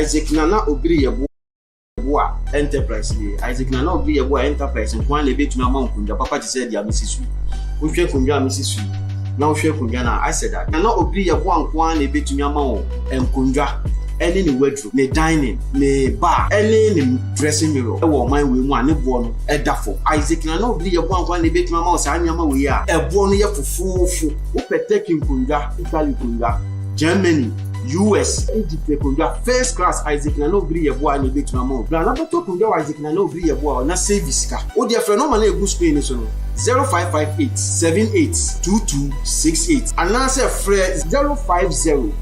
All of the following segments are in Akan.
Isaac Nana Obiri yɛ boa boa enterprise ni isaac nana obi yɛ boa enterprise nko ara na ebetumi ama nkonnwa papa te sɛ deɛ amesi so wohwɛ nkonnwa amesi so na wohwɛ nkonnwa na asɛ da nana obi yɛ boa nko ara na ebetumi ama wɔn nkonnwa ɛne ne waduru. ne dining, ne bar, ne ne dressing mirror wɔ ɔman wei mu a ne boɔ no da fam. Isaac, na na ɔbiri yɛ boa nkoa na ɛbɛtumi ama wo saa nneɛma wei a ɛboɔ no yɛ fofoofo. Wopɛ Turkey nkonnwa, Italy nkonnwa, Germany, US, Egypt nkonnwa, first class, Isaac, na na ɔbiri yɛ boa na ɛbɛtumi ama wo. Bra na bɛtɔ nkonnwa wɔ Isaac, na na ɔbiri yɛ boa hɔ, na save sika. Wo deɛ frɛ nɔma no a ɛgu screen no so no, 0558 78 2268, anaasɛ frɛ 050.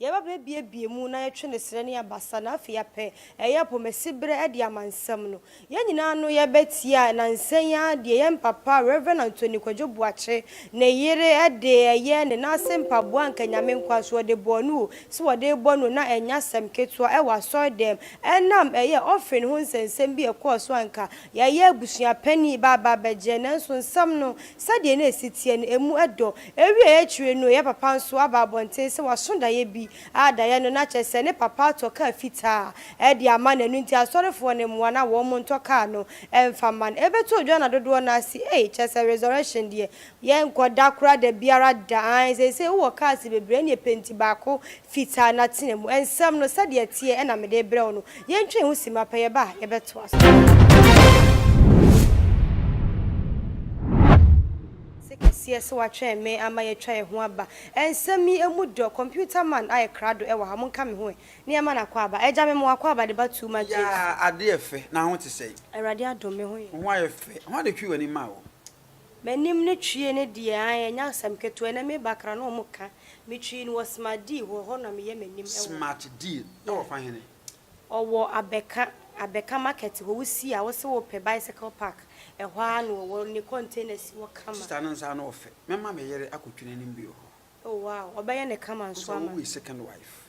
Yɛba bɛ abiebie mu na yɛtwe ne serɛ ne abasa na afei apɛ ɛyɛ apomasi berɛ de ama nsɛm no. Yɛn nyinaa ano yɛ bɛ tia nansa yi ara deɛ yɛn papa Rev. Anthony Kwadwo Boakye ne yere de ɛyɛ ne nan ase mpaboa anka Nyame nkoa so wɔde bɔɔ no o, se wɔde rebɔ no na ɛnyɛ asɛm ketewa ɛwɔ asɔredɛm ɛnam ɛyɛ offering ho nsɛnsɛm bi a ɛkɔɔ so anka yɛyɛ abusua panin ba aba abɛgye nanso nsɛm no Sɛdeɛ na ɛsi teɛ no, ɛmu dɔ. Ɛwieeɛ akyire no, yɛ papa nso aba abɔnten sɛ waso daeɛ bi, a daeɛ no na kyerɛ sɛ ne papa atɔ kaa fitaa de ama no, ɛno nti asɔrefoɔ no mmoa no a wɔn ntɔ kaa no mfa mma no. Ɛbɛtoo Joanna dodoɔ no ase, Ei, kyerɛ sɛ resurrection deɛ, yɛnkɔ da koraa da biara da, aane, seesei wowɔ cars bebree, ɛnneɛ penti baako Fitaa na tena mu. Nsɛm no, sɛdeɛ ɛteɛ na mede rebrɛ wo no. Yɛntwɛn ho simma pɛ, yɛba a, yɛbɛtoa so. Ase kɛseɛ sɛ woatwɛn me ama yɛatwa yɛn ho aba. Nsɛm yi, ɛmu dɔ. Computer man ayɛ krado wɔ ha, monka me ho ɛ. Nneɛma no akɔ aba. Agya, mema wo akɔ aba de ba too much James. Yaa, adeɛ yɛ fɛ. Na ho te sɛn? Awurade adom, me ho yɛ. Wo ho ayɛ fɛ. Hwan na ɛtwii w'ani maa wo? M'anim no twie no deɛ ae ɛnyɛ asɛm ketewa ɛnɛ me bakra na ɔmo ka me twi no wɔ smart deal hɔ ɛhɔ na meyɛ m'anim ɛwɔ hɔ. Smart deal ɛwɔ fa hene? Ɔwɔ abɛka abɛka market hɔ wo si a wose wo pɛ bicycle park ɛhɔ ara na ɔwɔ ne container si hɔ kama. Sister no nsa ano ɔfɛ. Mɛma me yere akɔtwi n'anim bio hɔ. Oh wow ɔbɛyɛ no kama nso ama no. Wosɛ wo wei second wife.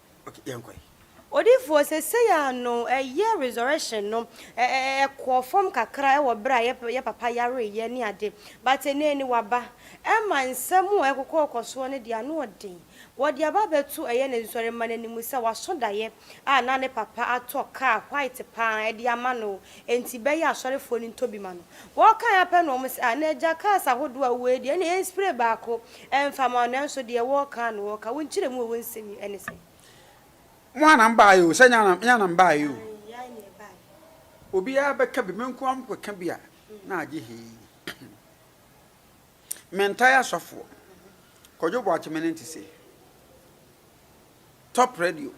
Ok yɛn kɔ. Odiyifoɔ sesei a no ɛyɛ resurrection no ɛ ɛ ɛkɔɔ fam kakra ɛwɔ berɛ a yɛ yɛ papa yareeɛ ne ade but ɛnɛ ni waba ɛma nsɛm a ɛkokɔɔkɔ soɔ no deɛ ano ɔden wɔde aba abɛto ɛyɛ ne nsɔremma no anim sɛ waso daeɛ a na ne papa atɔ car white paa ɛde ama no Enti bɛyɛ asɔrefoɔ no ntɔ bi ma no. Wɔkae ara pɛ na wɔn se, Ah, na agya kaa sa ahodoɔ a wowɔ yi deɛ, ɛnneɛ yɛnspray baako mfa ma wo, nanso deɛ wɔka ara na wɔka, wo nkyerɛmu a ɛwɔ nsɛm yi ne sɛn? Mo ara na mobaeɛ oo, sɛ nyɛ yɛn ara na mobaeɛ oo. Aane, yɛn ara na yɛbaeɛ. Obiara bɛka bi, me nko ara mobɛka bi a, na agye hee. Mentaa asɔfoɔ, Kwadwo Boakye me ne nte sei. Top radio,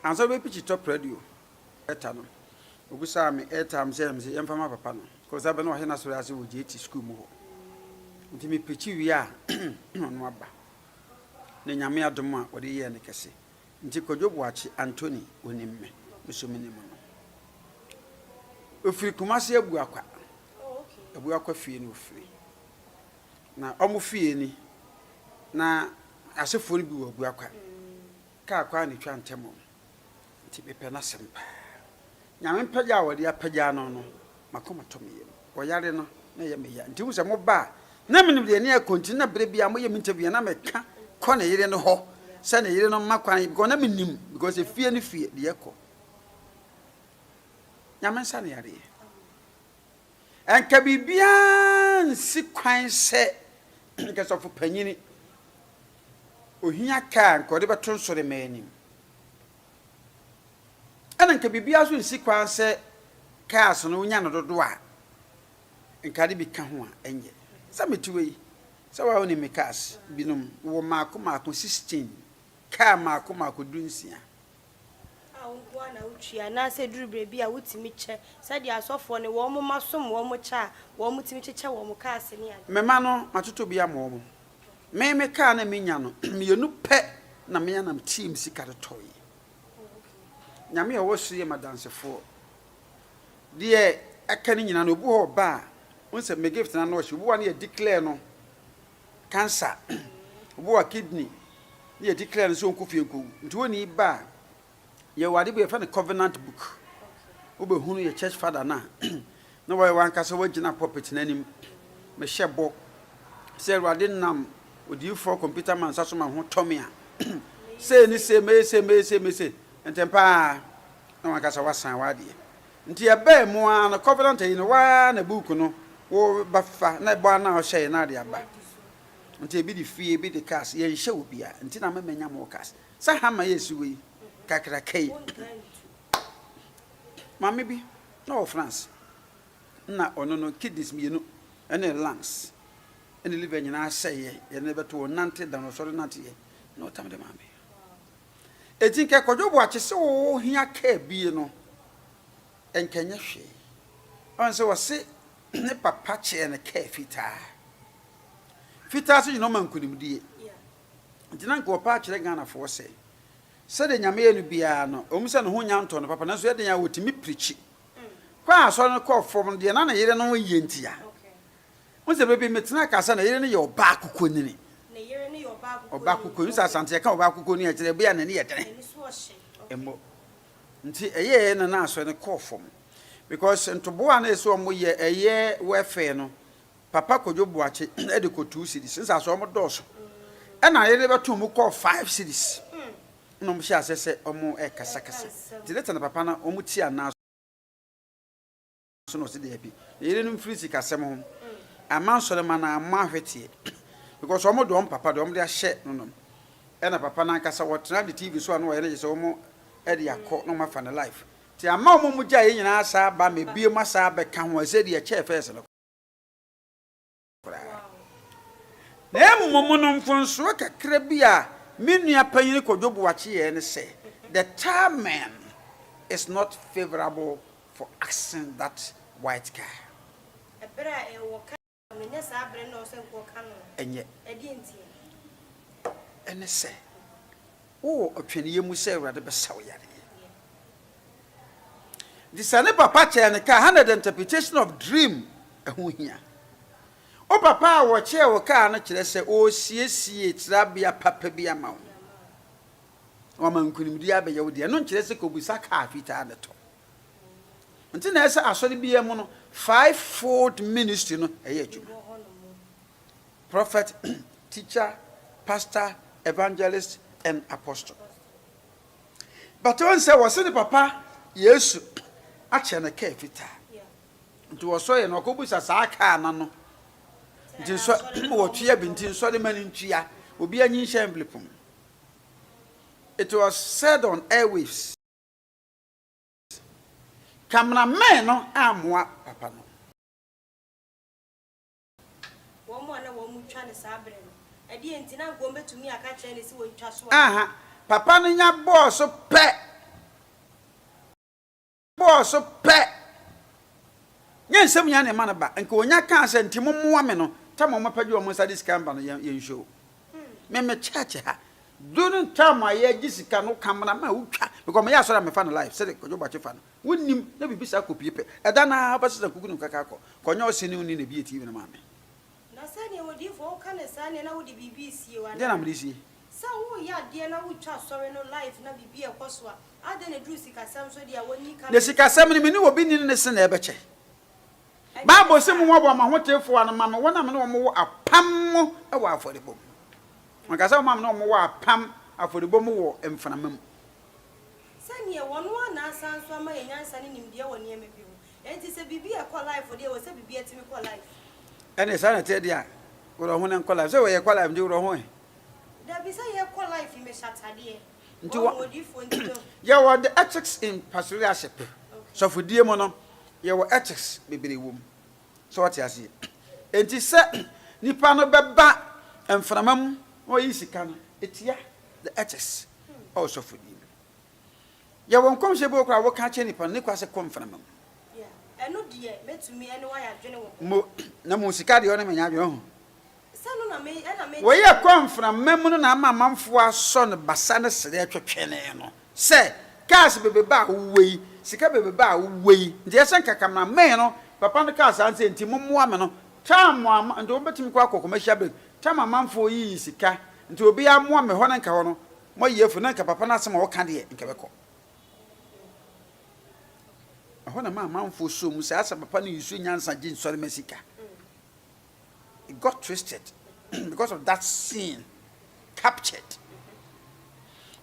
ansa wobɛpikyi top radio, Ɛta no. Obisaa me airtime sɛ mese yɛmfa ma papa no cause abɛ na ɔhe n'asɔre ase wɔ JT school mu hɔ. Nti me preachi wie a na ɔno aba. Na Nyame adom a ɔde yɛɛ no kɛse. Nti Kwadwo Boakye Anthony ɔnim me, me so menim no. Ɔfiri Kumasi Abuakwa. Abuakwa fie na ɔfiri. Na ɔmo fie ni. Na asefoɔ no bi wɔ Abuakwa. Kaa kwan na ɛtwa ntam ɔmo. Nti mepɛ n'asɛm paa. Nyame mpagya a wɔde apagya no no, m'akoma tɔ me yam. Wɔyare no, na ɛyɛ me ya. Nti wohu sɛ moba a, na menim deɛ ɛne ɛkɔ, nti na berɛ biara moyɛ me interview a, na meka kɔ ne yere no hɔ sɛ ne yere no mma kwan, because na menim, because efie ne fie deɛ ɛkɔ. Nyame nsa ne yareɛ. Anka biribiara nsi kwan sɛ anka sɔfo panyin ohia kaa anka ɔde bɛto nsɔremma anim. Ɛna anka biribiara nso nsi kwan sɛ cars no wonya no dodo a anka ade bi ka ho a ɛnyɛ. Sɛ mete wei sɛ wa wonim me cars binom wɔ mmaako mmaako 16 car mmaako mmaako dunsia a wo nko ara na wotua anaasɛ ɛduru berɛ bi a wotumi kyɛ sɛdeɛ asɔfoɔ ne wɔn mma som wɔn kyɛ a wɔtumi kyekyɛ wɔn kaase ne adeɛ. Me mma no, matotɔ bi ama wɔn. Me, me kaa no a menya no, mmienu pɛ na me ara na meteeɛ me sika de tɔeɛ. Nyame a ɔwɔ soro yɛ m'adansefoɔ. Deɛ aka no nyinaa no, obi wɔ hɔ a ɔba a, wohu sɛ me gift no ano ɔhye, obi wɔ hɔ a na yɛ declare no cancer obi wɔ kidney ne yɛ declare no sɛ ɔnkɔ fie nkɔwu nti wɔnni ba a yɛwɔ ade bi yɛfrɛ no covenant book wobɛhunu yɛ church father no a na wɔyɛ wankasa wagyina pulpit no anim mehyɛ bɔ sɛ awurade nam odiyifoɔ computer man nsa so ma ho tɔme a sei ne sei mɛyɛ sei mɛyɛ sei mɛyɛ sei ntɛmpaa na wankasa wasan wadeɛ Nti ɛbaa mu ara no Covenant ayi no woaa na book no wo ba fa na ɛbɔ ara no a ɔhyɛɛ na ade aba. Nti ebi de fie ebi de cars yɛnhyɛ obiara nti na me manya more cars. Sɛ hammer yɛ si wɔ yi kakraka yi Maame bi na ɔwɔ France na ɔno no kidneys mmienu ɛne lungs ɛne liver nyinaa sɛeɛ yɛde no bɛto ɔnante da no ɔsɔre nante yɛ na ɔtam de maa me. Enti nka Kwadwo Boakye se wo hia car bie no nka nyɛ hwee. Ɔn se ɔse ne papa kyeɛ no car fitaa. Fitaa se nyina ɔma nkunimdie. Nti na nka ɔpɛ akyerɛ Ghana foɔ se sɛdeɛ Nyame yɛ no biaa no ɛwom se ne ho nnya ntɔɔ no papa nanso ɛyɛ den a ɔtumi pirikyi kɔɔ asɔre no kɔɔ fɔm no deɛ na ne yere no yɛ ntia. Wohu sɛ bere bi metenaa kasa na yere no yɛ ɔbaa kokonini. Ɔbaa kokonini. Sɛ Asante yɛka ɔbaa kokonini a ɛkyerɛ ebia n'ani yɛ den. Mmɔ. Nti ɛyɛɛ na na asɔre no kɔɔ fam. Because ntoboa a na ɛsɛ wɔn yɛ ɛyɛ welfare no, Papa Kojo Boakye de kɔ two cedis. Wohu sɛ asɔre wɔn dɔɔso. Ɛna yere no bɛtoo mu kɔɔ five cedis. Ɛna wɔn hyɛɛ aseɛ sɛ wɔn ɛrekasakasa. Nti later na Papa no wɔn tia no ara so. So na ɔsi daabi. Ne yere no mfiri sikasɛm ho. Amma nsɔremma no ammɔ ahweteɛ because wɔn deɛ wɔn papa deɛ wɔn de ahyɛ no nom. Ɛna papa no ankasa wɔtena de TV so a na wɔyɛ no gye sɛ wɔn de akɔ na wɔn afa ne life. Nti amma wɔn mu gyaeɛ nyinaa asan aba ma ebiem asan abɛka ho ɛsɛ deɛ ɛkyɛɛ first no. koraa. Na mmom no mfomsoɔ kakra bi a me nua panyin Kojo Boakye yɛɛ ne sɛ, the tarmac is not favourable for axing that white car. Ɛberɛ a ɛwɔ ka no na ɛnyɛ saa berɛ no na ɔwɔ sɛ nkurɔfoɔ ka no. Ɛnyɛ. Ɛdeɛ nti? Ɛne sɛ, Wowɔ ɔtwɛneɛ mu sɛ Awurade bɛsa wo yareɛ. Nti sɛ ne papa kyɛɛ no kaa ha na the interpretation of dream ɛho hia. Wo papa a wɔkyɛɛ wo kaa no kyerɛ sɛ ɔresiesie trabea papa bi ama wo. Na wama nkunimdie abɛyɛ wo deɛ. Ɛno nkyerɛ sɛ kɔbisa kaa fitaa no tɔ. Nti na ɛsɛ asɔre biara mu no five fold ministry no ɛyɛ adwuma. Prophet, teacher, pastor, evangelist and apostle. But wɔn sɛ wɔsɛ ne papa Yesu akyɛ no kaa fitaa. Nti wɔsɔre no ɔkɔbusa saa kaa no no. Nti nsɔ wɔtua bi nti nsɔre ma no ntua. Obi anyi nhyɛ envelope mu. It was said on airwaves. Cameraman no ammoa papa no. Aha, papa no nya bɔɔ so pɛ, bɔɔ so pɛ. Nyɛ nsɛm nyinaa na ɛma no ba. Nka onya kaa sɛ, Nti mommoa me no, tam a wɔpɛ de wɔn nsa de sika reba no, yɛn, yɛn show. Me, me church ha, during time a yɛregye sika no, Kameraman, wotwa, because meyɛ asɔre a mefa no live, sɛdeɛ Kwadwo Boakye fa no. Wonnim na biribi saa kɔ pue pɛ. Ɛda no ara bɛsesa kuku ne nkaka kɔ, kɔ nyɛ ɔse ne wo ni na bi yɛ TV ne maame. Na sɛdeɛ odiyifoɔ wo ka ne saa neɛ na wode biribi resie o anaa? Deɛ na mede resie? Sɛ woreyɛ adeɛ na wotwa asɔre no live na biribi rekɔso a, adɛn na ɛduru sikasɛm so deɛ a wonni ka na. Na sikasɛm no me ne obi nni no ne se na ɛbɛkyɛ. Bible se mo hoaboa mo ahotefoɔ ano ma me wɔn a me ne wɔn wɔ apam mu wɔ afɔrebɔ mu. Wɔka sɛ wɔn a me ne wɔn wɔ apam, afɔrebɔ, mu wɔ mframa mu. Sɛdeɛ wɔno ara na asan nso ama yɛn nyansa ne nimdeɛ wɔ nneɛma bi ho. Enti sɛ biribi ɛkɔ life deɛ ɛwɔ sɛ biribi atumi kɔ life. Ɛne saa na ɛteɛ deɛ a worɔ ho na nkɔ life. Sɛ wɔ yɛkɔ life nti worɔ ho ɛ? Dabi sɛ yɛkɔ life me hyɛ atadeɛ. Nti wɔ odiifoɔ nti me ho. Yɛwɔ the ethics in pastoralship. Sɔfodie mu no yɛwɔ ethics bebree wɔ mu. Sɛ wɔte aseɛ. Enti sɛ nipa no bɛba mframa mu na ɔyi sika no ɛtia the ethics. Oh, sɔfo ni no. Yɛ wɔ nkɔmhyɛ bi wɔ koraa wɔka kyerɛ nipa no, ne kwa sɛ kɔ mframa mu. Ɛno deɛ mɛtumi ɛne wayɛ adwene wɔ ho. Mo, na mo sika deɛ ɔne menyɛ adwene ho. Sɛ no na me, ɛna me. Wɔ yɛ kɔ mframa mu no na ama amanfoɔ asɔ no basa ne srɛ twetwenee no sɛ, cars bebeba a wowɔ yi, sika bebeba a wowɔ yi, nti ɛsɛ nka camera man no, papa no kaa saa nti sɛ nti mo mmoa me no, time a, nti wɔbɛtumi kɔ akɔ commercial break, Tam amanfoɔ yi yi sika nti obiaa mmoa me hɔ na nka hɔ no moayi afu na nka papa no asɛm a ɔka deɛ nka ɛbɛkɔ. Ɛhɔ na ɛma amanfoɔ sɔ mu sɛ asɛ papa no use nyansa gye nsɔrema sika. It got twisted because of that scene captured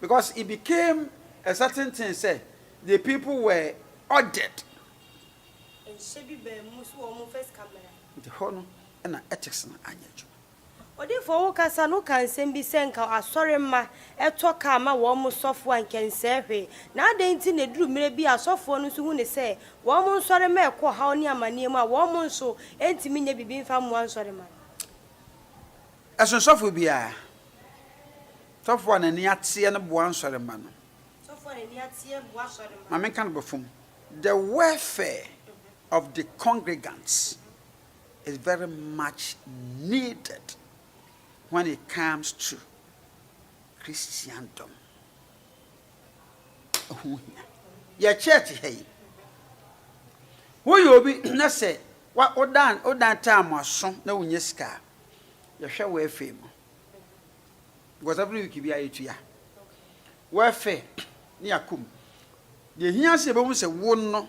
because it became a certain thing sɛ the people were ordered. Nhyɛ bi baa mu nso wɔn mfa sika mmra. Nti hɔ no na ethics no anyɛ adwuma. Odiyifo wo kasa no ka nsɛm bi sɛ nka asɔre mma ɛtɔ car ma wɔn mo sɔfo a nka ɛnsɛɛ hwee, na adɛn nti na ɛduru mmerɛ bi a asɔfoɔ no nso hu no sɛ wɔn mo nsɔre mma ɛkɔ ɔhaw ne amaneɛ mu a wɔn mo nso ɛntumi nyɛ biribi mfa mmoa nsɔre mma no? Ɛsono sɔfo biara. Sɔfo a n'ani ateɛ no boa nsɔre mma no. Sɔfo a n'ani ateɛ boa sɔre mma no. Ma menka no bɔfam, the welfare of the congregants. is very much needed when it comes to Christendom. Ɛho hia. Yɛ church ha yi. Woyɛ obi na sɛ wodan wodan time aso na wonya sika a, yɛhwɛ wo afei mu. Because every week bi ayɛ tua. Wɔafɛ ne akom. Deɛ hia sɛ yɛbɛhu sɛ wo no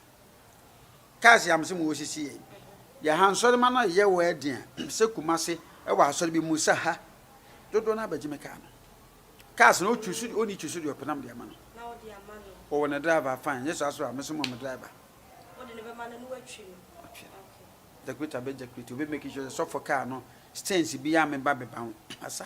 Cars yɛ amsem wɔ sisi yɛ yi. Deɛ ha nsɔrema no yɛ wɔ ɛden a sɛ kumase ɛwɔ asɔre bi mu sɛ ha dodoɔ no abɛgye me car no. Cars no ɔtwi so ɔni twi so deɛ ɔpɛ nam deɛ ama no. Ɔwɔ ne driver fine nyɛ saa so a me so mɔ me driver. Ɔde ne bɛma no no watwi no. Watwi no. Jakurita bɛ jakurita ɔbɛ make sure sɛ sɔfo car no stance bi a me ba bɛba ho asa.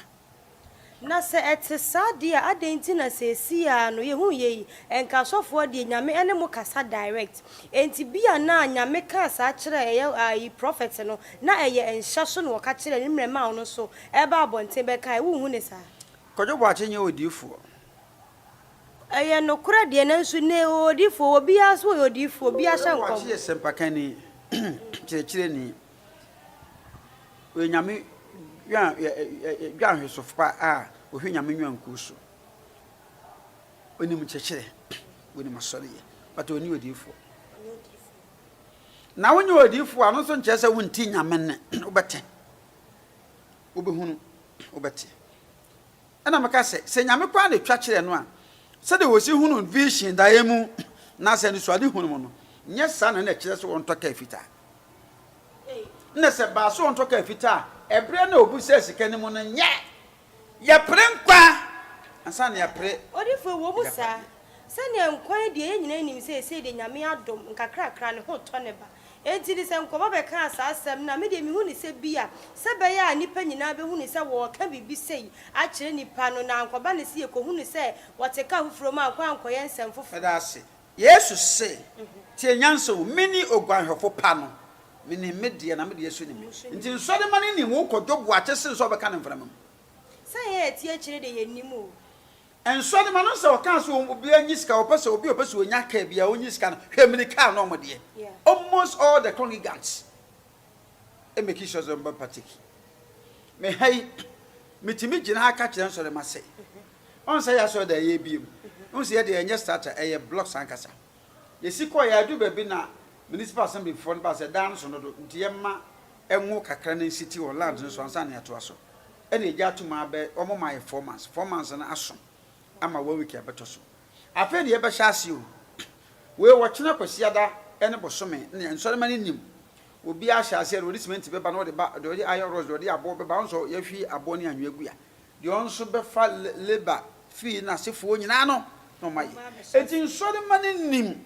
Na sɛ ɛte saa deɛ a, adɛn nti na seesei ara no yɛhu yei? Ɛnka asɔfoɔ deɛ, Nyame ɛne mo kasa direct. Enti bia na Nyame kaa saa kyerɛɛ ɛyɛ ayi prɔfɛt no, na ɛyɛ nhyɛ so na ɔka kyerɛɛ no mmerɛ maa ɔno nso ɛɛba abɔnten bɛkaeɛ. Wonhu ne saa? Kwadwo Boakye nyɛ odiyifoɔ. Ɛyɛ nokorɛ deɛ nanso nnɛ yi odiyifoɔ wɔ, obiara nso yɛ odiyifoɔ, obiara hyɛ nkɔm. Kwadwo Boakye yɛ sɛmpakanni, kyerɛkyerɛni, Ɔyɛ Nyame dwan ɛ ɛ ɛ ɛ dwanhwɛsofopa a ɔhwɛ Nyame nnwankuo so. Ɔnim nkyɛkyerɛ, ɔnim asɔreyɛ, but ɔnni odiyifoɔ. Na wonyɛ odiyifoɔ a, no nso nkyerɛ sɛ wonti Nyame nne. Wobɛte, wobɛhunu, wobɛte. Ɛna meka sɛ, sɛ Nyame koraa na ɛtwa kyerɛ no a, sɛdeɛ wɔsi hunu vision daeɛ mu, na sɛ anisoadehunu mu no, nyɛ saa na na ɛkyerɛ sɛ wɔntɔ kaa fitaa. Nna sɛ baaso ɔntɔ kaar fitaa a, ɛberɛ na ɔbusaa sika no mu no nyɛ. Yɛpere nkwa ansa na yɛapere Ɔdifo ɛwɔ mu saa. Sɛnea nkwa yɛ deɛ yɛn nyinaa nim sɛ ɛsei deɛ Nyame adom nkakrakra ne ho tɔ ne ba. Enti no sɛ nkɔba bɛkaa saa asɛm no a medeɛ mehu no sɛ bi a sɛ bɛyɛ a nnipa nyinaa bɛhunu sɛ wɔɔka biribi sei akyerɛ nnipa no na ankɔba no sɛ yɛkɔhunu sɛ wɔte kaa foforɔ mu a nkɔ ankɔyɛ nsɛm foforɔ. Ɛda ase Yesu se, Tie nyansa o, mene oguanhwɛfo pa no, menim me deɛ, na me deɛ nso nim me. Enti nsɔremma no nim wo kɔdwo boakye sen sɛ wɔbɛka no mframa mu. Sɛ yɛn a yɛte akyire de, yɛnnim o. Nsɔremma no sɛ ɔkaa sɛ obiara nyi sika, ɔpɛ sɛ obi a ɔpɛ sɛ ɔnya kaa biara, ɔnyi sika no, hwɛ, mene kaa no wɔn deɛ, almost all the congregants. make sure sɛ ɔmbɛ partake me ha yi metumi gyina ha ka kyerɛ nsɔre ma sɛ ɔn sɛ yɛ asɔre da yɛ ebie mu ɔn sɛ yɛ deɛ ɛnyɛ starter ɛyɛ blocks ankasa yɛsi kɔ yɛ adu baabi na municipal assembly foɔ no ba sɛ dan no so no do nti yɛ ma ɛnwo kakra na nsiti wɔ land no so ansa na yɛatoa so ɛna ɛgya ato mu abɛ wɔn ma yɛ four months four months no aso ama one week ɛbɛtɔ so afei na yɛbɛhyɛ ase o wei wɔkyena kwasiada ɛne bosome ne nsɔrema no nim Obi ahyɛ aseɛ deɛ ɔde simɛnti bɛba na ɔde ba deɛ ɔde iron rods deɛ ɔde aboɔ bɛba ɔn sɔ yɛhwi aboɔ ne anwea gu a deɛ ɔn nso bɛfa labour fee na asefoɔ nyinaa no na ɔma yɛ enti nsɔre ma no nim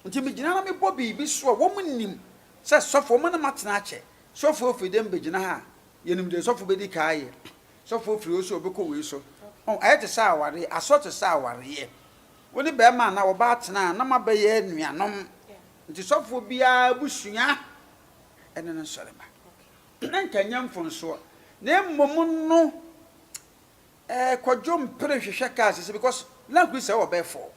enti me gyina na me bɔ biribi so a wɔn nim sɛ sɔfo wɔn na ma tena akyɛ sɔfo ofiri dɛm bɛ gyina ha a yɛ nim deɛ sɔfo bɛ di ka ayɛ sɔfo ofiri ɔsɛ ɔbɛ kɔ wei so ɔn ayɛ te sɛ awareɛ asɔ te sɛ awareɛ wo ne bɛɛma anaa ɔbaa tena a na ma bɛ yɛ nuanom Nti sɔfoɔ biara abusua ne no nsɔre mma. Na nka nyɛ mfonsoɔ na mmom no eh kwadwo mpere hwehwɛ kaa sese because na kuri sɛ wɔ bɛɛ four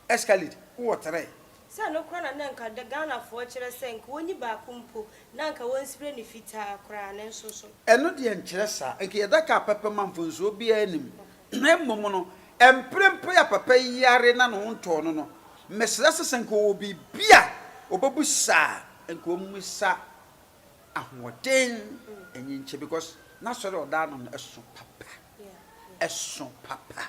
escalade wowɔ three. Sɛ ɛno koraa na na nka Ghanafoɔ kyerɛ sɛ nka wɔnyi baako mpo na nka wɔn spray no fitaa koraa ne nso so. Ɛno deɛ nkyerɛ saa nka yɛda kaa pɛpɛ ma mfonsoɔ biara nnim Na mmom no, mprempren a papa yi yare na ne ho ntɔɔ no no, mesrɛ sɛ, sɛ anka ɔwɔ biribi a ɔbɛbisa a, anka ɔmmisa ahoɔden nyi nkyɛ, because n'asɔre a ɔda ano no, ɛso papa, ɛso papa.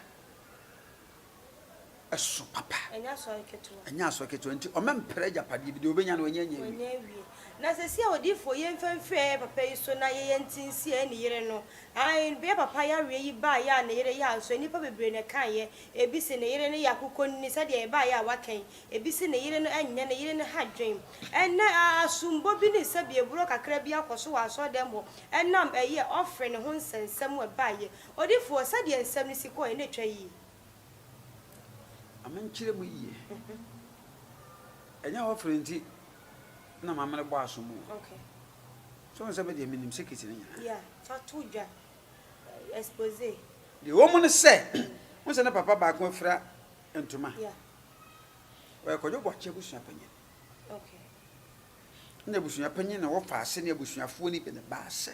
so papa. Ɛnyɛ asɔre ketewa. Ɛnyɛ asɔre ketewa. Nti ɔmɛmpere agyapadeɛ bi. Deɛ ɔbɛnya no, ɔnyɛ nyɛ awie. Ɔnyɛ awie. Na seesei a odiyifoɔ yi mfa mfiri papa yi so na yɛyɛ nti nsi ɛyɛ ne yere no. Ae, bere a papa yareɛ yi baeɛ a ne yere yaa nso, nnipa bebree na ɛkaeɛ. Ebi se ne yere no yɛ akokɔnini, sɛdeɛ ɛbaeɛ a wɔaka yi. Ebi se ne yere no nyɛ ne yere no ha adwene. Ɛnnɛ, asombɔ bi ne sɛbiɛborɔ kakra bi akɔ so wɔ asɔredɛm hɔ ɛnam ɛyɛ ɔfre no ho nsɛnsɛm a ɛbaeɛ. Odiyifoɔ, sɛdeɛ nsɛm no si kɔeɛ na ɛtwa yie. Ma menkyerɛ mu yiye. Ɛnyɛ wɔfrɛ nti na ma mene bɔ asom o. Okay. So nsɛ me deɛ menim secret ne nyinaa. Yeah, fa to dwa. Expose. Deɛ ɛwɔ mu ne sɛ, wo sɛ ne papa baako afira ntoma. Yeah. Ɔyɛ kɔdwo bɔkye abusua panyin. Okay. Na abusua panyin na wɔfa ase ne abusuafoɔ ne bi ne baasɛ.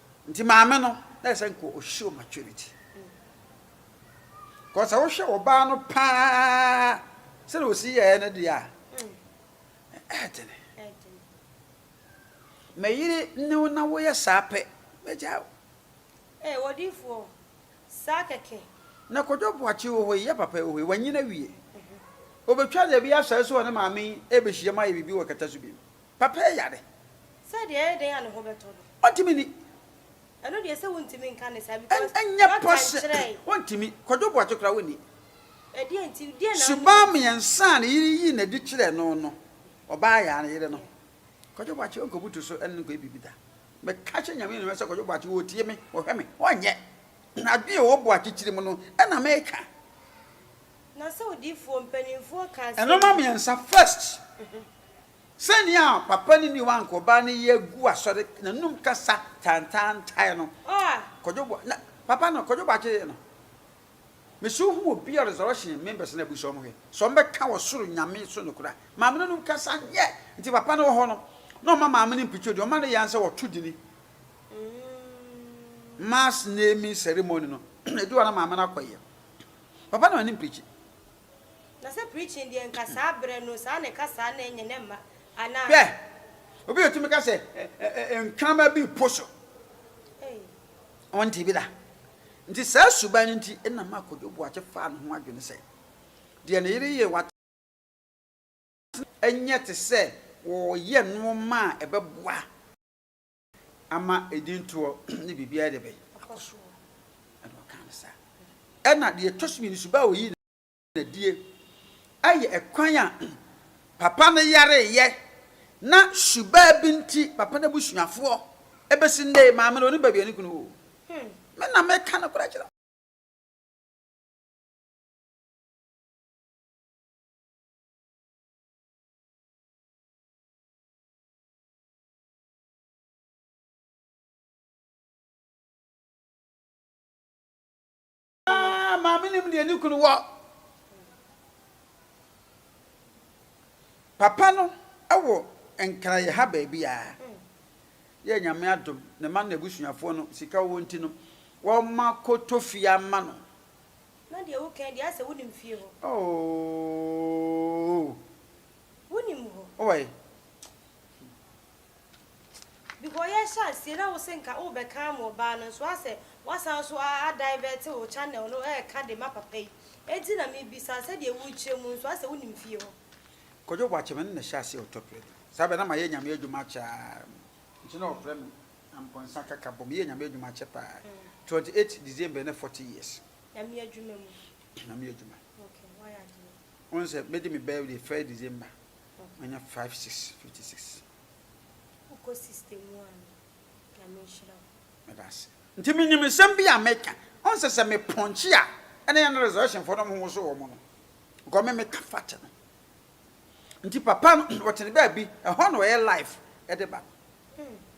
Nti maame no na ɛsɛ nka ɔ show maturity cause sɛ wo hwɛ ɔbaa no paa sɛdeɛ ɔsi yɛɛ no deɛ a ɛɛdene mɛyere ne wo na woyɛ saa pɛ mɛgyaa wo Ee, odiyifoɔ, saa kɛkɛ. Na Kwadwo Boakye wɔ hɔ yi, yɛ papa yi wɔ hɔ yi, wanyin awie. Ɔbɛtwa deɛ ɛbɛyɛ asaase so wɔ ne maame yi rebɛhyiam ayɛ biribi wɔ Kɛtɛ so bio. Papa yɛ yare. Sɛ deɛ ɛyɛ dɛn a ne ho bɛtɔ no. Ɔntumi nni. Ɛno deɛ sɛ wontumi nka ne saa because doctor nkyerɛɛe. Wontumi. Kwadwo Boakye koraa wonni. Ɛdeɛn nti, deɛn na wonni. Suban mmiɛnsa a ne yere yii no adi kyerɛɛ no no, ɔbaa yɛ a ne yere no. Kwadwo Boakye ɔnkɔ butu so ɛne no nkɔyɛ biribi da. Meka kyerɛ Nyame animuonyam sɛ Kwadwo Boakye ɔretie me, ɔhwɛ me, ɔnyɛ. Adwene a ɛwɔ Boakye tirim no na meka. Na sɛ odiyifoɔ, mpaninfoɔ ka asɛm bi. Nnoɔma mmiɛnsa, first. Sɛnea papa no ne wankɔbaa no yɛ gu asɔre n'anom kasa tantaantae no, Kwadwo Boa na papa no, Kwadwo Boakye yɛ no. Mese wo hu obi a resurrection members no abisa wɔn hwɛ sɛ wɔbɛka ɔsoro Nyame so nokorɛ a, maame no anom kasa nyɛ, nti papa no wɔ hɔ no na ɔma maame no mpicture din, ɔma no yan sɛ wɔto dini, mass naming ceremony no, ɛdu hɔ na maame no akɔ yɛ. Papa no ani mpicture. Na sɛ preaching deɛ nka saa berɛ no saa na ɛka saa na ɛnyɛ na ɛmma anaa. Hwɛ! Obi betumi ka sɛ ɛ-ɛ-ɛ nkrama bi repo so. Ei. Wɔntee bi da. Nti saa suban no nti na maa Kojo Boakye faa ne ho adwene sɛ deɛ ne yere yɛ wɔ atenaseɛ nyɛ te sɛ wɔreyɛ nnoɔma a ɛbɛboa ama edintoɔ ne biribiara de bɛn? Akɔ soɔ. Ɛna ɔkaa no saa. Ɛna deɛ ɛtɔ so mmienu nso, baa ɔyii no adie. Ayɛ ɛkwan a papa no yareeɛ na subaa bi nti papa no abusuafoɔ bɛsi nnɛ yi, maame no ɔnim baabi a ne kunu wɔ o. Me na meka nokorɛ kyerɛ wo. Ah, maame nim deɛ ne kunu wɔ. Papa no wɔ nkra yɛ ha baabi a yɛ nyame adom ne ma no abusuafoɔ no sika wɔ nti no wɔma kɔtɔ fie ama no. Na deɛ wo kan deɛ asɛ wo nim fie hɔ. Ooh. Wonim hɔ. Wowɔ he? Because yɛhyɛ aseɛ na wose nka wobɛka ama ɔbaa no nso asɛ woasan nso a adivert wo channel no ɛɛka de ma papa yi enti na mebisa sɛdeɛ worekyerɛ mu nso asɛ wonim fie hɔ. Kwadwo Boakye me ne no hyɛ aseɛ wɔ Tokyo adi saa bɛ na mayɛ Nyame adwuma akyɛ aa nti na ɔfrɛ me Ampɔnsa kaka bɔ meyɛɛ Nyame adwuma akyɛ paa 28 December ne 40 years Nyame adwuma mu. Nyame adwuma. Okay wayɛ adwuma. Wohu sɛ medi me birthday first December, manya five six fifty six. Wokɔ system mu a no, Nyame nhyira wo. Meda ase. Nti menim nsɛm bi a meka. Wohu sɛ sɛ me pɔnkye a, ɛne yɛn resurrection foɔ no ɔmo woso wɔn no. Because me meka fact no. Nti papa no, ɔte ne baabi, ɛhɔ na ɔyɛ live de ba no.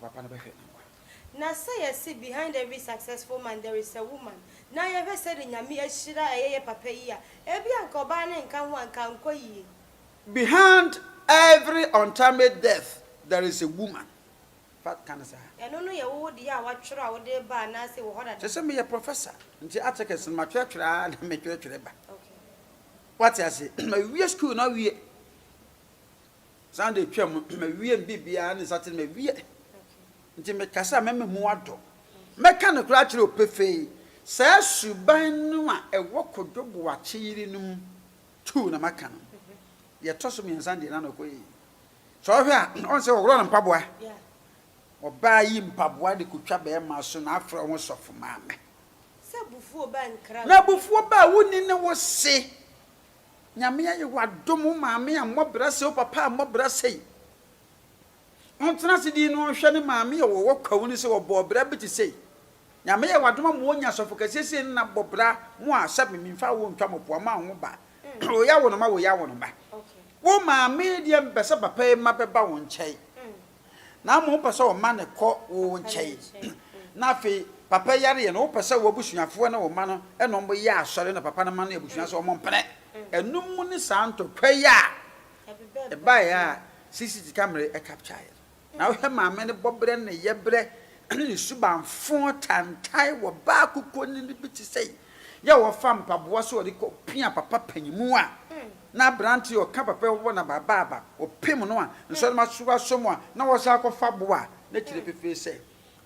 Ka papa no bɛhwɛ nkwa. Na sɛ yɛse behind every successful man there is a woman na yɛhwɛ sɛde Nyame ahyira ɛyɛ yɛ papa yi a, ebi a nka ɔbaa no nka ho a nka ankɔ yie. Behind every untimely death there is a woman, fa ka no saa. Ɛno no yɛ wowo deɛ a woatwerɛ a wode reba anaase wɔ hɔ dada? Sɛ sɛ meyɛ professor nti articles no matwerɛtwerɛ ara na metwerɛtwerɛ ba. Woate aseɛ? Mawie school no awie. Sunday twam no, mawie me biribiara ne Saturday mawie. Nti mekasa a mɛma mu adɔ. Mɛka no koraa akyerɛ wo pefee, saa suban no a ɛwɔ Kojo Boakye yere no mu tuu na maka no. Deɛ ɛtɔ so mmiɛnsa deɛ na na ɔkɔ yie. Sɛ ɔhwɛ a, ɔhu sɛ wɔworɔ no mpaboa. Ɔbaa yi mpaboa de kɔtwa barima so na afrɛ wo ho sɔfo maame. Na abufuo baa wonni ne wo se. Nyame ayɛ wo adom wo maame ammɔ bra sei wo papa ammɔ bra sei ɔntena ase din no ɔnhwɛ ne maame a ɔwɔ kwawu no sɛ ɔbɔɔ bra bi te sei Nyame ayɛ wo adom ama wanya asɔfo kɛseɛ sei no na bɔ bra mo a sɛ me menfa wo ntwa mo poa ma wo ho ba wo ya wo no ma wo ya wo no ba wo maame deɛ mpɛ sɛ papa yi ma bɛba wo nkyɛn. na mmom wopɛ sɛ ɔma no kɔ wo nkyɛn. Na afei papa yareɛ no wopɛ sɛ w'abusuafoɔ ne wo mma no ɛna wɔn yɛ asɔre na papa no ma no abusua sɛ wɔn mpene. Ɛnum mu ne saa ntɔkwa yi a ɛbaeɛ a CCT kamere ɛkapkyaeɛ no. Na wohwɛ maame no bɔberɛ ne yɛberɛ ne ne subanfoo tantae wɔ baa kukuo nini bi te sɛ yɛ a ɔfa mpaboa sɛ ɔde rekɔ pia papa panyinmu a Ná aberante a ɔka papa a ɔwɔ n'abaaba ɔpem no a nsɔre ma so asɔ mu a na ɔsan kɔfa bo a na kyerɛ pefee sɛ,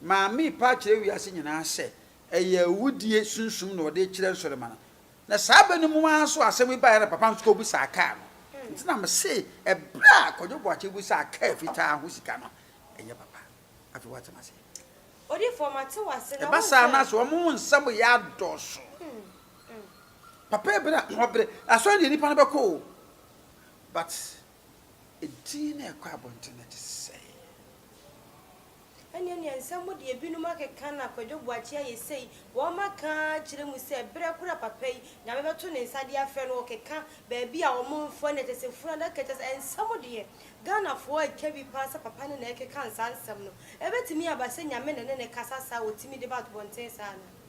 Maame repa akyerɛ wiase nyinaa sɛ ɛyɛ awudie sunsum na ɔde rekyerɛ nsɔre ma no. Na saa bɛ no mu ara so a asɛm yi baeɛ na papa nso kɔbisaa kaa no. Nti na mese ɛberɛ a Kwadwo Boakye bisaa kaa fitaa ho sika no, ɛnyɛ papa. Afei woate m'aseɛ. Odifoɔ mate w'ase na wonka. Ɛba saa no a sɛ wɔn nsɛm yɛ adɔɔso. Papa ebi na ɔbrɛ asɔre deɛ nipa no bɛkɔ o but edin na ɛkɔ abɔnten no te sɛ. Ɛneɛ neɛ nsɛm mo deɛ binom akeka na Kwadwo Boakye ayɛ sei wɔn aka akyerɛ mu sɛ berɛ koro a papa yi Nyame bɛto ne nsa de afrɛ no ɔkeka baabi a wɔn mfoɔ ne ɛkyɛ sɛ funu adaka kyerɛ sɛ nsɛm deɛ Ghanafoɔ atwa bi paa sɛ papa no na ɛkeka saa nsɛm no ɛbɛtumi aba sɛ Nyame na ɛne no kasa saa a ɔtumi de ba abɔnten saa anaa?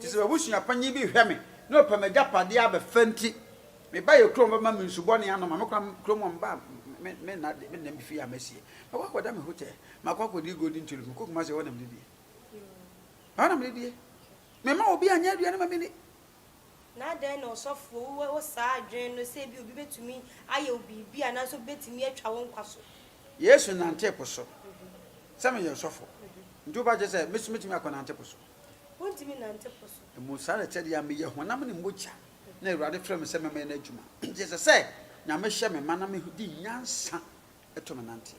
Te sɛ m'abusua panyin bi hwɛ me na ɔpɛ m'agyapade abɛfa nti, me ba yɛ kurom ba ma me nsu bɔne anom a mekora kurom hɔ mma me nna de me nna me fie a masie. Makɔ akɔda me hotel, makɔ akɔdi Golden Tulip, mekɔ Kumasi ɛhɔ na mede die. Ɛhɔ na mede die. Memma obi anyɛ aduane ma menni. Na adɛn na ɔsɔfo wowɔ saa adwene no sɛ ebia obi betumi ayɛ wo biribi anaasɛ obi betumi atwa wo nkwa so? Yesu nantee po so sɛ meyɛ ɔsɔfo, nti wo ba kyerɛ sɛ me nso metumi akɔnante po so? Wontumi nnante po so. Mmom saa ara kyɛrɛ deɛ meyɛ honam ne mogya na Awurade frɛ me sɛ mɛmɛyɛ n'adwuma. Nti ɛsɛ sɛ Nyame hyɛ me ma na me di nyansa to me nanteɛ.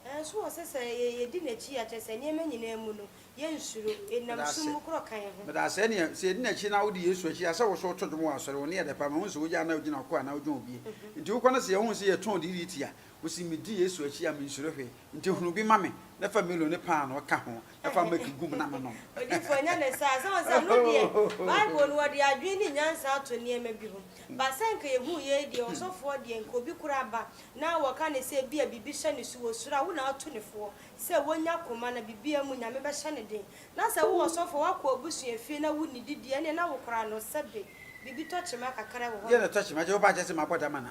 Nanso ɔsɛ sɛ yɛdi n'akyi a kyerɛ sɛ nneɛma nyinaa mu no yɛnsuro, yɛnam sum mu korɔ ka yɛn ho. Meda ase ɛneɛ sɛ yɛdi n'akyi na wodi Yesu akyi a sɛ woso woto dwom wɔ asɔre, wo nne yɛ dɛ paa, mahu sɛ woyɛ a na wogyina ɔko anaa wogyina obie nti wokɔ na sɛ yɛhu sɛ yɛtɔn dii tia Ose, Midi Yesu akyi a, minsuro hwee. Nti hunu bi ma me, na fa milo ne paanoo ka ho, na fa milk gu mu na menom. Odifo, ɛnyɛ ne saa. Sɛ wɔn sɛ ɛno deɛ, Bible no, wɔde adwene ne nyansa ato nneɛma bi ho. Ba sɛ anka yɛhuu yei deɛ, ɔsɔfoɔ deɛ, anka obi koraa ba na wɔka no sɛ ebia biribi hyɛ no so wɔ soro a, wo na woatu no foɔ sɛ wɔnya koma na biribiara mu Nyame bɛhyɛ no den. Na sɛ wo ɔsɔfoɔ, woakɔ w'abusua fie na wonnidi deɛ, ɛneɛ na wokora no sɛbe biribi tɔkyema kakra wɔ hɔ nom. Deɛ na ɛtɔkyema, Jehovah akyɛ sɛ mabɔ dam anaa?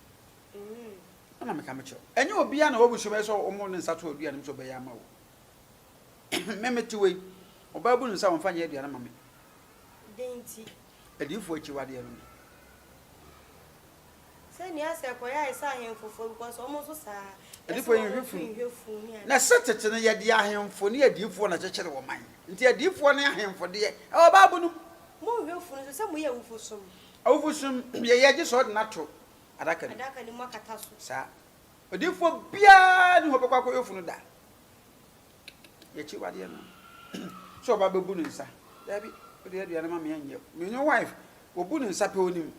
Amen. Ana meka me kyerɛ ɛnyɛ obiara na wabu so bɛyɛ sɛ ɔmo ne nsa to aduane mu sɛ ɔbɛyɛ ama wo me mete wei ɔbaa bu ne nsa wɔmfa nyɛ aduane ma me dɛn nti adiyifoɔ akyiwadeɛ no ni sɛ nea sɛ kɔyɛ ayɛ sɛ ahemfofoɔ because ɔmo nso saa adiyifoɔ yɛ nhwɛfunu na sɛ tete no yɛde ahemfo ne adiyifoɔ na kyekyere wɔ man nti adiyifoɔ ne ahemfo deɛ ɛwɔ baabu no mu nhwɛfunu nso sɛ moyɛ awufo som Awufo som yɛ yɛ gye sɛ ɔde no ato adaka no mu. Adaka no mu akata so. Saa. Odiyifoɔ biara ni hɔ ɔbɛkɔ akɔyɛ funu da. Yɛ akyiwadeɛ no. Sɛ ɔba bɛbu ne nsa. Daabi, wode aduane ma me a nyɛ. Me ne wife, wɔbu ne nsa pɛ ɔnim.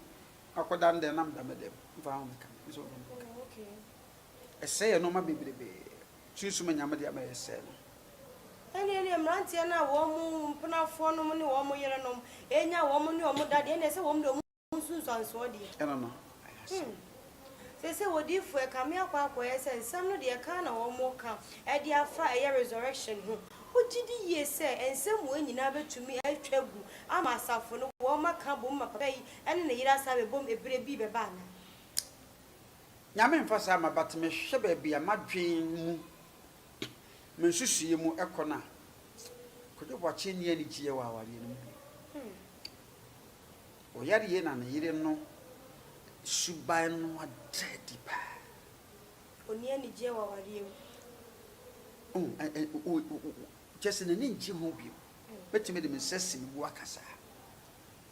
Akɔ da no dɛn na meda me dɛm. Mfa ho meka me. Nso ɔdɔ me nka. Ɛsɛe yɛ nnoɔma bebrebee. Sunsum a Nyame de ama yɛn sɛɛ no. Ɛnna ɛneɛ mmeranteɛ no a wɔn mpenafoɔ nom ne wɔn yerenom anya wɔn ne wɔn da deɛ, ɛnna ɛsɛ wɔn de wɔn nsunsuansoɔ deɛ. Ɛno no, ɛyɛ asɛm. Hmm. Seesei odiyifoɔ ɛkame akɔ akɔyɛ sɛ nsɛm no deɛ ɛka na wɔreka de afa ɛyɛ resurrection ho. Wogye di yie sɛ nsɛm wei nyinaa bɛtumi atwa agu ama asafo no wɔaka abom ma papa yi ne ne yere asan abɛbom ɛberɛ bi bɛba anaa? Nyame mfa saa mma but me hwɛ baabi a m'adwen mu me nsusuiɛ mu kɔ no a Kwadwo Boakye nni anigyeɛ wɔ awareɛ no mu bio. Ɔyareɛ na ne yere no suban no ada adi paa. Ɔnni anigyeɛ wɔ awareɛ mu. Kyerɛ sɛ n'ani ngye ho bio. Mɛtumi de me nsa asi me bo aka saa.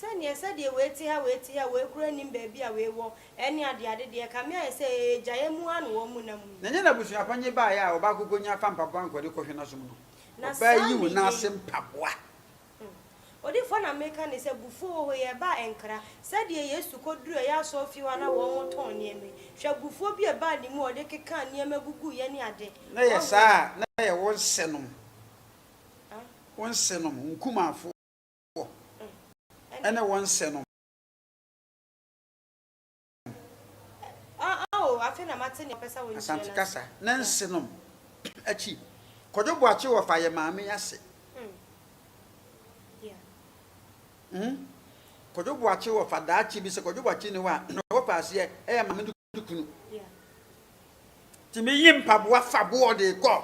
Sɛdeɛ sɛdeɛ wei te ha wei te ha wei koraa nnim baabi a wei wɔ ɛne adeɛ ade deɛ ɛka me ayɛ sɛ ee gya yɛ mu ara na wɔn nam yi. Na ɛnyɛ n'abusua pa nye baeɛ a ɔbaako kɔnya fa mpaboa nkɔde kɔhwɛ n'asom no. Na Ɔbaa saa yi wo nan ase mmeyɛyi. mpaboa. Hmm. Odifoɔ na meka ne sɛ bufuo wɔ hɔ yi ɛbaa ɛnkra. Sɛdeɛ Yesu kɔduruu ɛyɛ asɔrefie hɔ a na wɔn tɔn nneɛma yi. Hwɛ bufuo bi a ɛbaa ne mu a ɔde kekaa nneɛma guguiɛ ne ade. Na yɛ Wahu? saa a na yɛ wo nsenom. Ah. Wo nsenom, nkumafoɔ. wɔ ne wɔn nsɛ nom. Asante kasa ne nse nom akyi. Kwadwo Boakye wɔ fa yɛ maame ase. Kwadwo Boakye wɔ fa daakye bi sɛ Kwadwo Boakye ni hɔ a, na wɔ fa aseɛ yɛ maame ne kunu. Tumi yi mpaboa fa boɔ de kɔ.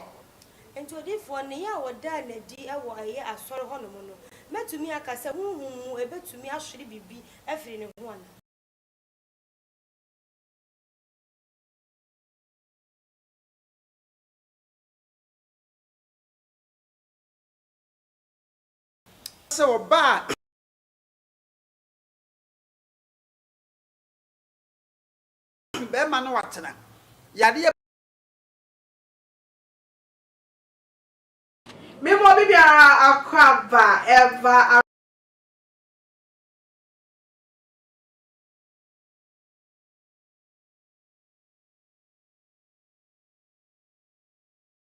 Enti odiyifoɔ nneyɛɛ a wɔdaa no adi wɔ ɛyɛ asɔre hɔnom no, mɛtumi aka sɛ honhom mu ɛbɛtumi ahwere biribi afiri ne ho anaa? Sɛ ɔbaa. Bɛma no atena. Yadeɛ. Me mɔ bibi ara akɔ aba ɛva ara.